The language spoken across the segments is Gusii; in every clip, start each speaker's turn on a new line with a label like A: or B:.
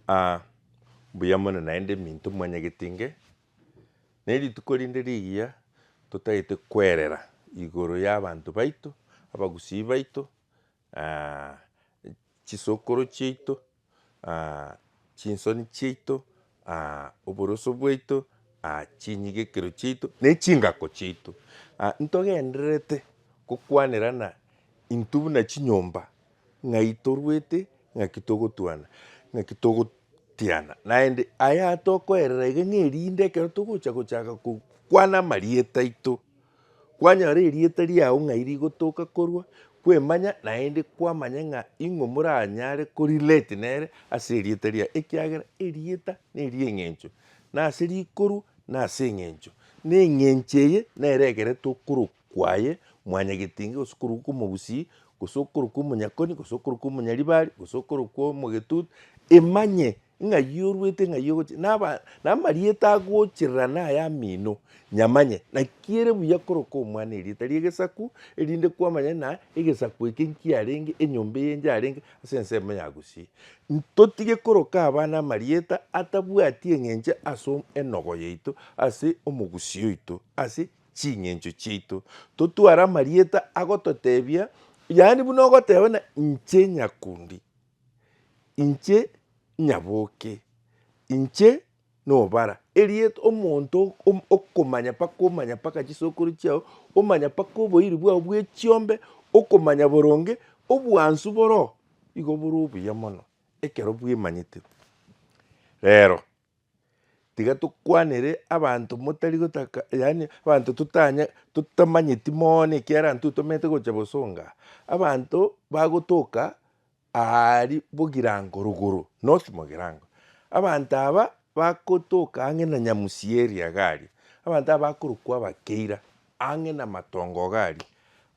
A: Aa, mbuya mono naende minto mwanyagete inge. Ne rituko rinde rigiya totagete kwerera igoro y'abanto baito, abagusii baito, aa, chisokoro chiaito, aa, chinsoni chiaito, aa, oboroso bwaito, aa, chinyigekero chiaito, na echingako chiaito. Aa, ntogendererete gokwanera ng'a intwe buna chinyomba Ng'ai torwete, ng'aki togotwana, ng'aki togotiana, naende aya tokoerera iga ng'a erinde ekero togocha gochaka kwana amarieta aito, kwanyora erieta riao ng'ai rigotoka korwa, kwemanya naende kwamanya ng'a ing'o moranyare ko relate nere ase erieta riaye, ekiagera erieta nerieng'encho, nase rikorwa nase eng'encho, na eng'encho eye nere ekere tokoro kwaye, mwanyagetinga, gose okorokwa kw'omogusii, gose okorokwa omonyakoni, gose okorokwa omonyaribari, gose okorokwa omogetutu, emanye ng'a yoruete ng'a yogochi naba namarieta agocherera naya amino, nyamanye, naki ere buya korokwa omwana erieta ri'egesaku, erinde kwamanya ng'a egesaku eke nkiarenge, enyomba eye nkiarenge ase ensemo ya gusii. Ntotige koroka abana amarieta atabwati eng'encho ase enogo yaito, ase omogusii oito, ase. ching'encho chiaito, totware amarieta agototebia, yaani buna ogoteba buna inche Nyakundi, inche Nyaboke, inche Nobara, erieta omonto okomanya mpaka omanya mpaka chisokoro chiao, omanya mpaka oboiri bwao bwe chiombe, okomanya boronge obwansu boroo igo bore obuya mono ekero bwemanyete. Rero. Tiga tokwanere abanto motari gotaka yaani abanto totanya totamanyeti mooono ekiara intwe tomanyete gocha bosonga, abanto bagotoka aari bogirango rogoro north mogirango. Abanto aba bagotoka ang'e na nyamusi eria iga aria, abanto aba bakorokwa abakeira ang'e na matongo iga aria.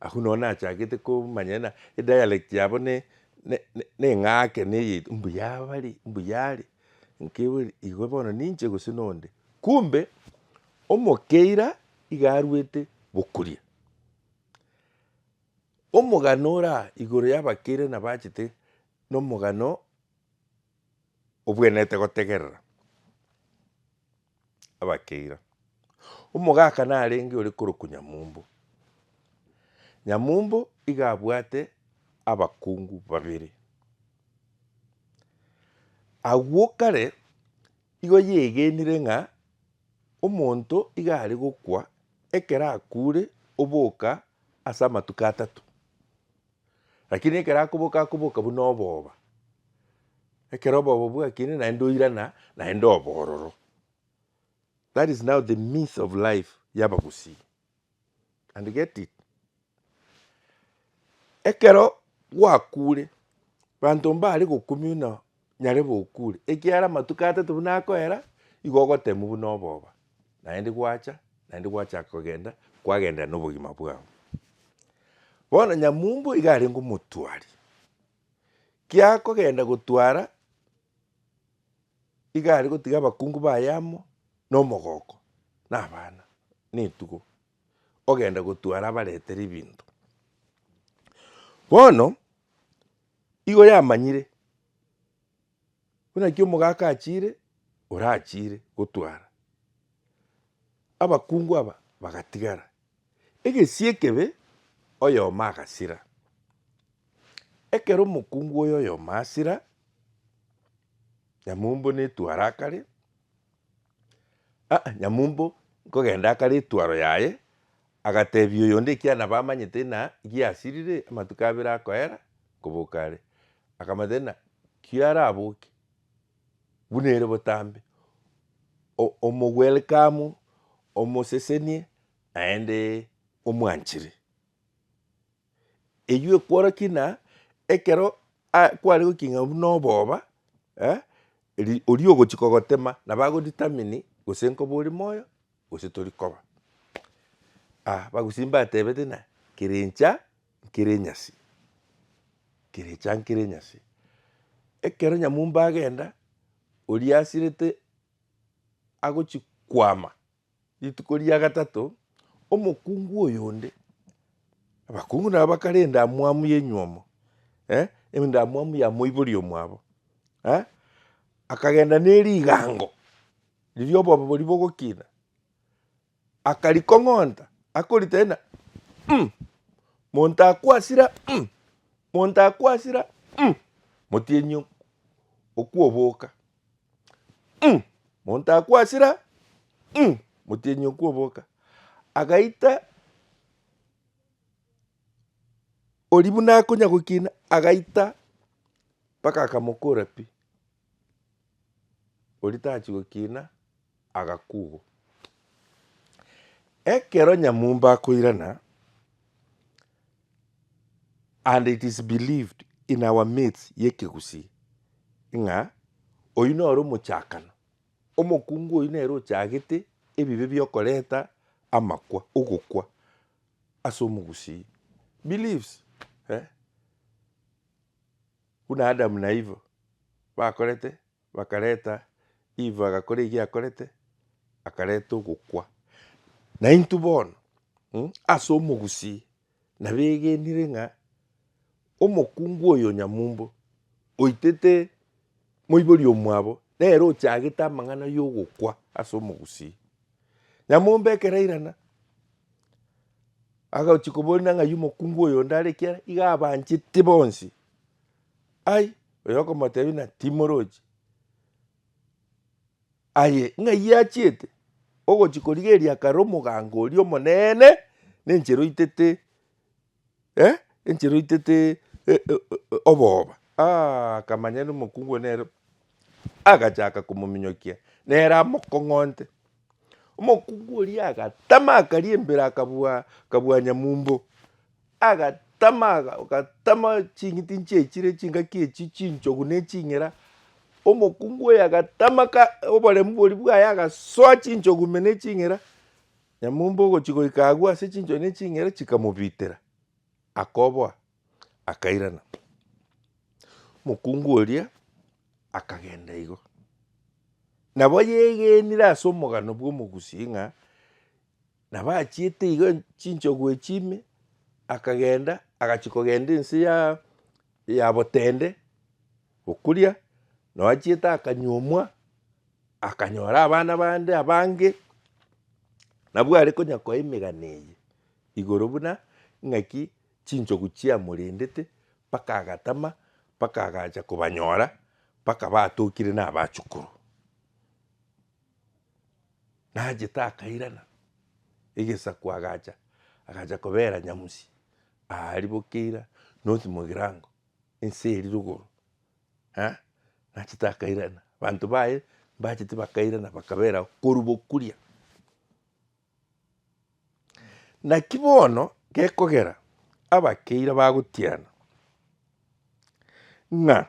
A: Agwo nonya nachagete komanya ng'a edialect yabo ne neng'ake neyeito mbuya bare mbuya are nki bore igo bono ninche gose nonde. Kumbe omokeira iga arwete bokuria. Omogano ora igoro yabakeire nabo achete nomogano obwenerete gotegerera. abakeira. Omogaka narenge ore korokwa Nyamumbu. Nyamumbu iga abwate abakungu babere. Agwo kare igo yegenire ng'a omonto iga are gokwa ekero akure oboka ase amatuko atato. Lakini ekero akoboka akoboka buna obooba, ekero obooba bwakina naende oirana naende obororo. That is now the myth of life y'abagusii and get it. Ekero gwakure, banto mbare gokumia buna nyare bokure, ekiagera amatuko atato buna akoera, igo ogotemwa buna oboba, naende gwacha, naende gwachaka kogenda, kwagenderera nobogima bwao. Bono nyamumbu iga arenge omotwari, kiakogenda gotwara, iga are gotiga abakungu baye amo, na omogoko, na abana, na etugo, ogenda gotwara abaretere ebinto. Bono. Igo yamanyire, buna ki omogaka achiire, orachiire gotwara. Abakungu aba bagatigara, egesie ekebe oyomo agasira. Ekero omokungu oyo oyomo asira, Nyamumbo netwara akare, ah Nyamumbo nkogenda akare etwaro yaye, Agateebia oyonde ekiana bamanyete ng'a giasirire amatuko abere akoera koboka are. Akamanyete ng'a kiaraboke buna ere botambe, o- omo welcome, omosesenie naende omwanchire. Eywo ekworokia ng'a ekero a- kware gokina buna obooba ri- oria ogochia kogotema nabo ago determine gose nkoba ore moyo. gose tori koba. Ah abagusii mbatebete ng'a kere incha nkere enyasi, kere incha nkere enyasi. Ekero nyamumba agenda, oria asirete agochi kwama rituko ria gatato, omokungu oyo onde, abakungu nabo bakare endamwamu ya enywomo eh, endamwamu ya moibori omwabo eh, akagenda ne rigango Riria obobe boria bogokina, akarikong'onta, akoritaina, um, monto akwasira, um, monto akwasira, um, motienyi okwo oboka, um, monto akwasira, um, motienyi okwo oboka. Agaita oria buna akonya gokina, agaita mpaka akamokora pi. Oria tachi gokina agakugwa. Ekero nyamumba akoirana, and it is believed in our midst y'ekegusii, ng'a oyio noro omochakano, omokungu oyio nere ochagete ebibe biokoreta amakwa, ogokwa as'omogusii. Beliefs eh. Buna Adamu na Iva bakorete, bakareta, Iva agakora ekiya akorete, akareta ogokwa. Na intwe bono, mm, ase omogusii, nabegenire ng'a omokungu oyo nyamumbo oitete moibori omwabo, nere ochagete amang'ana y'ogokwa ase omogusii. Nyamombekera irana, agachi koboria ng'ai omokungu oyonde are ekiara, iga abanchete bonsi. Ai, oyo okomotebia na timorochi. Aye ng'ai achiete ogochi korigereria kare omogango oria omonene, nenchera oitete. eh, enchera oitete eh, eh, eh, obooba Ah, akamanya ere omokungu one nere agachaka komominyokia nere amokong'onte omokungu oria agatama akaria embere akabua akabua nyamumbo agatama aga- agatama ching'iti nchiechire chingaki echi chinchogu na eching'era omokungu oyo agatama ka oboremu boria bwaye agasoa chinchogu ime na eching'era Nyamumbe ogochia goika agwo ase chinchori ne ching'ere chikamobitera, akoboa, akairana. Mokungu oria akagenda igo. Nabo yegenire ase omogano bw'omogusi ng'a nabo achiete igo chinchogu echi ime, akagenda agachia kogenda ense ya ya Botende, Okuria noachiete akanyuomwa, akanyora abana bande abange, nabwo are konyakoa emegano eye igoro buna ng'aki chinchogu chiamorendete mpaka agatama, mpaka agacha kobanyora, mpaka batokire na abachukuru. Nachete akairana egesaku agacha, agacha kobera nyamusi aria bokeira nosi mogirango. ense eri rogoro eh, nachete akairana, banto baye mbachete bakairana bakaberao korwa bokuria. Naki bono gekogera abakeire bagotiana ng'a.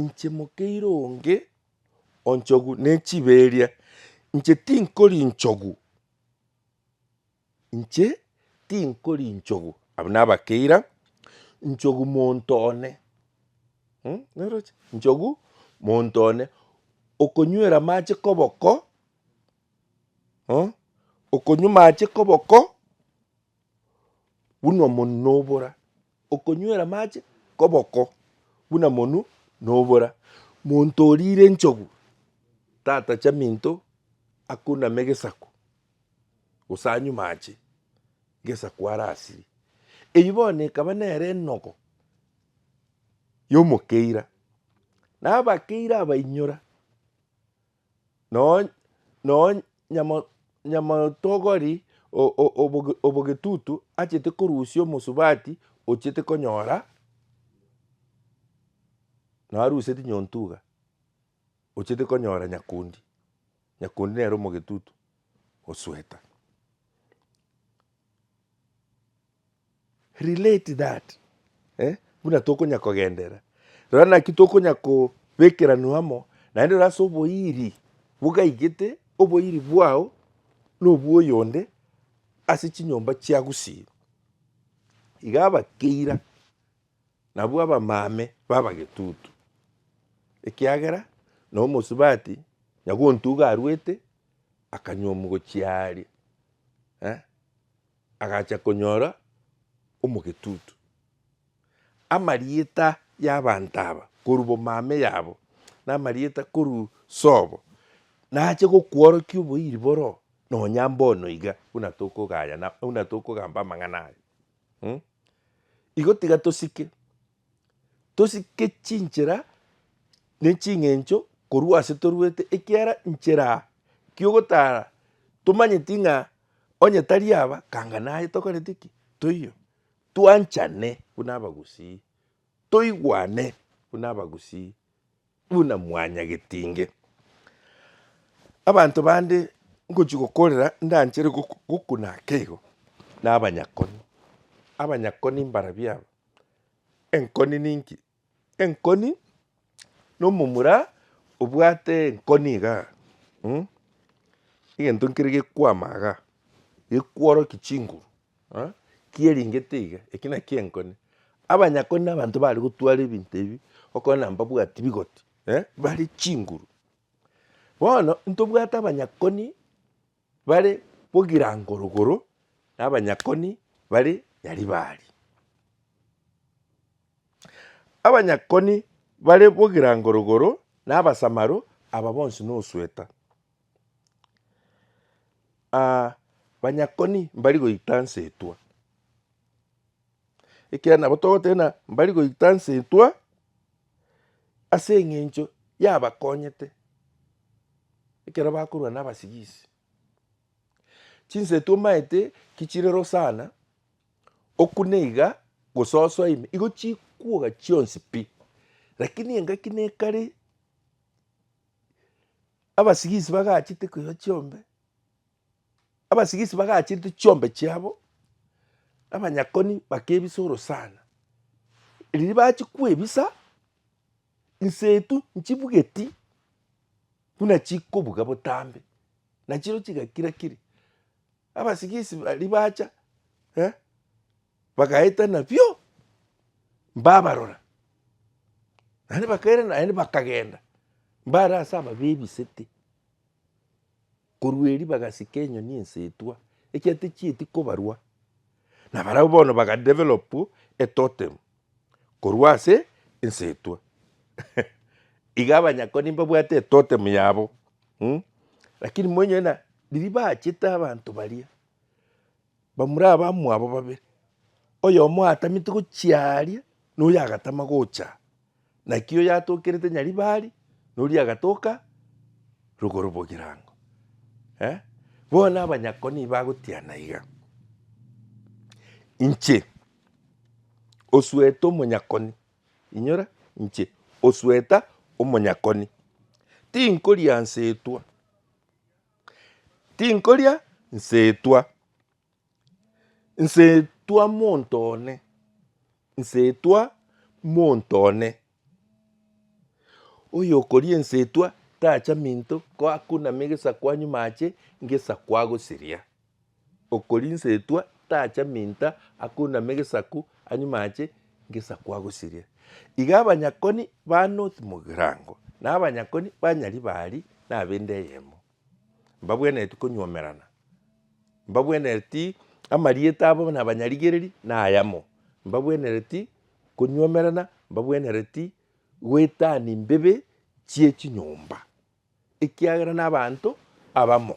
A: Inche mokeire onge onchogu nechiberia, inche tinkori inchogu, inche tinkori inchogu, abwo nabakeira, inchogu monto one mh naroche, inchogu monto one, okonywera amache koboko mh, okonywa amache koboko. buna omonu nobora, okonywera amache koboko buna omonu nobora. Monto orire enchogu tatacha minto akuname gesaku gose anywe mache gesaku arasirie. Eyio bono ekaba nere enogo yomokeira, na abakeire abainyora Nonya nyamotogori obogetutu achete korusia omosubati ochete konyora naruseti nyontuga ochete konyora nyakundi, nyakundi nere omogetutu osweta. Relate that eh, buna tokonya kogenderera. Rora naki tokonya kobekeranwa amo, naende rora ase oboiri bogaigete oboiri bwao nobwoyonde ase chinyomba chia Gusii. Iga abakeira nabwo abamame babagetutu, ekiagera nomosubati nyagontuga arwete. akanywa omogochi aria eh, agacha konyora omogetutu. Amarieta y'abanto aba korwa bomame yabo, na amarieta korwa sobo, nache gokworokia oboiri boro nonya mbono iga buna tokogayana, buna tokogamba amang'ana aya. Igo tiga tosike tosike chinchera ne ching'encho korwa ase toruete, ekiagera nchera ki'ogotara tomanyeti ng'a onye tari aba kanga naye tokoreti ki? Toiyo. Twanchane buna abagusii, toigwane buna abagusii. buna mwanyageti inge. Abanto bande ngochia gokorera ndanchere gokuna akeigo na abanyakoni. Abanyakoni mbarabio aba, enkoni ninki? Enkoni na omomura obwate enkoni iga egento nkere gekwama iga, gekworoki chinguru. Kieringete iga, eki nakio enkone. Abanyakoni na abanto bare gotwara ebinto ebi okona mbabwati bigoti, bare chinguru. Bono ntobwate abanyakoni bare Bogirangorogoro na abanyakoni bare Nyaribari. Abanyakoni bare Bogirangorogoro na Abasamaro aba bonsi nosweta. banyakoni mbari goita nse etwa, ekiagera nabo togoteba mbari goita nse etwa ase eng'encho yabakonyete ekero bakorwa na abasigisi. Chinsa etwa omanyete ki chirero sana, okune iga gososo ime, igo chikuoga chionsi pi, lakini engaki nekare. abasigisi bagachete koiba chiombe, abasigisi bagachete chiombe chiabo, abanyakoni bakebisa orosana. Riria bachia kwebisa, insetu nchibugeti buna chikobuga botambe, nachio chigakira kiri. Abasigisi baria bacha eh. Bagaetana bio, mbabarora, naende bakairana, naende bakagenda, mbare ase ababia ebisete. Korwa erio bagasika enyoni ensetwa, ekiagera techieti kobarwa, na barabwo bono baga develop etotem korwa ase ensetwa iga abanyakoni mbabwate etotem yabo, lakini moinyore buna riria bachete abanto baria, Bamura abamwabo babere, oyomo atamete gochia aaria, na oyo agatama gocha aa, naki oyo atokerete Nyaribari, na oria agatoka rogoro bw'egerango. Eh, bono abanyakoni bagotiana iga, inche osuete omonyakoni, inyora, inche osueta omonyakoni, tinkoriansetwa. Tinkoria nsetwa, nsetwa monto one, nsetwa monto one. Oyokoria ensetwa tacha minto ko akuname egesaku anyume ache ngesaku agosiria. Okorinsetwa tacha minta akoinama egesaku anyume ache ngesaku agosirie. Iga abanyakoni ba North Mugirango na abanyakoni ba Nyaribari na abende eyemo mbabwenereti konyuomerana, mbabwenereti amarieta abo buna abanyarigereri na ayamo, mbabwenereti konyuomerana, mbabwenereti goetania mbebe chie chinyomba ekiagera na abanto abamo.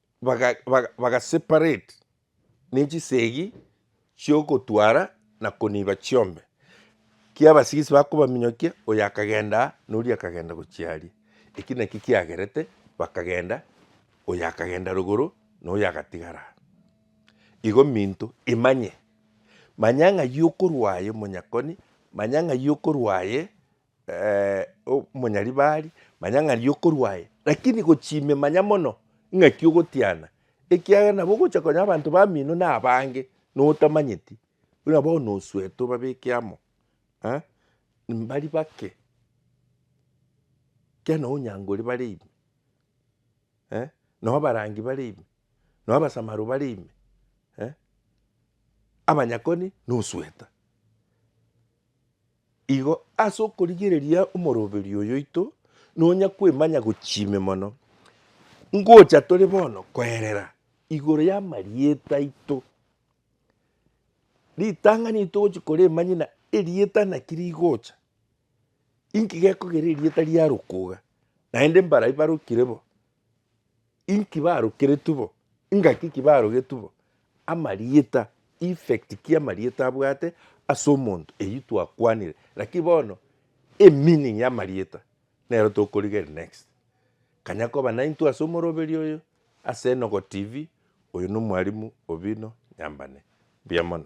A: baga baga bagaseparate nechisegi chiogotwara na koniba chiombe, ekiya abasigisi bakobaminyokia oyo akagenda aa na oria akagenda gochia aria, eki naki kiagerete bakagenda oyo akagenda rogoro na oyo agatigara aa. Igo minto imanye, manya ng'ai okorwa aye omonyakoni, manya ng'ai okorwa aye omonyaribari, manya ng'a riokorwa aye, rakini gochime manya mono ng'aki ogotiana, ekiagera nabo ogocha konya abanto bamino na abange notamanyeti, buna bono osuete obabeke amo mbari bake, ekiagera nonye onyankore bare ime, nonye abarangi bare ime, nonye abasamaro bare ime, abanyakoni nosueta. Igo ase okorigereria omoroberio oyo oito nonya kwemanya gochia ime mono, ngocha tore bono koerera igoro y'amarieta aito. Ritang'ani eri togochia koremanya ng'a erieta naki rigocha, inki gekogera erieta riaroka iga, naende mbaria barokire bo. Inki barokeretwe bo? Ingaki ki barogetwe bo? Amarieta, effect ki amarieta abwate ase omonto eyio twakwanire, lakini bono emeaning y'amarieta nero tokorigeria next. Kanya koba naintwe ase omoroberi oyo ase Enogo TV, oyo nomwarimu Obinna Nyambane. Mbuya mono.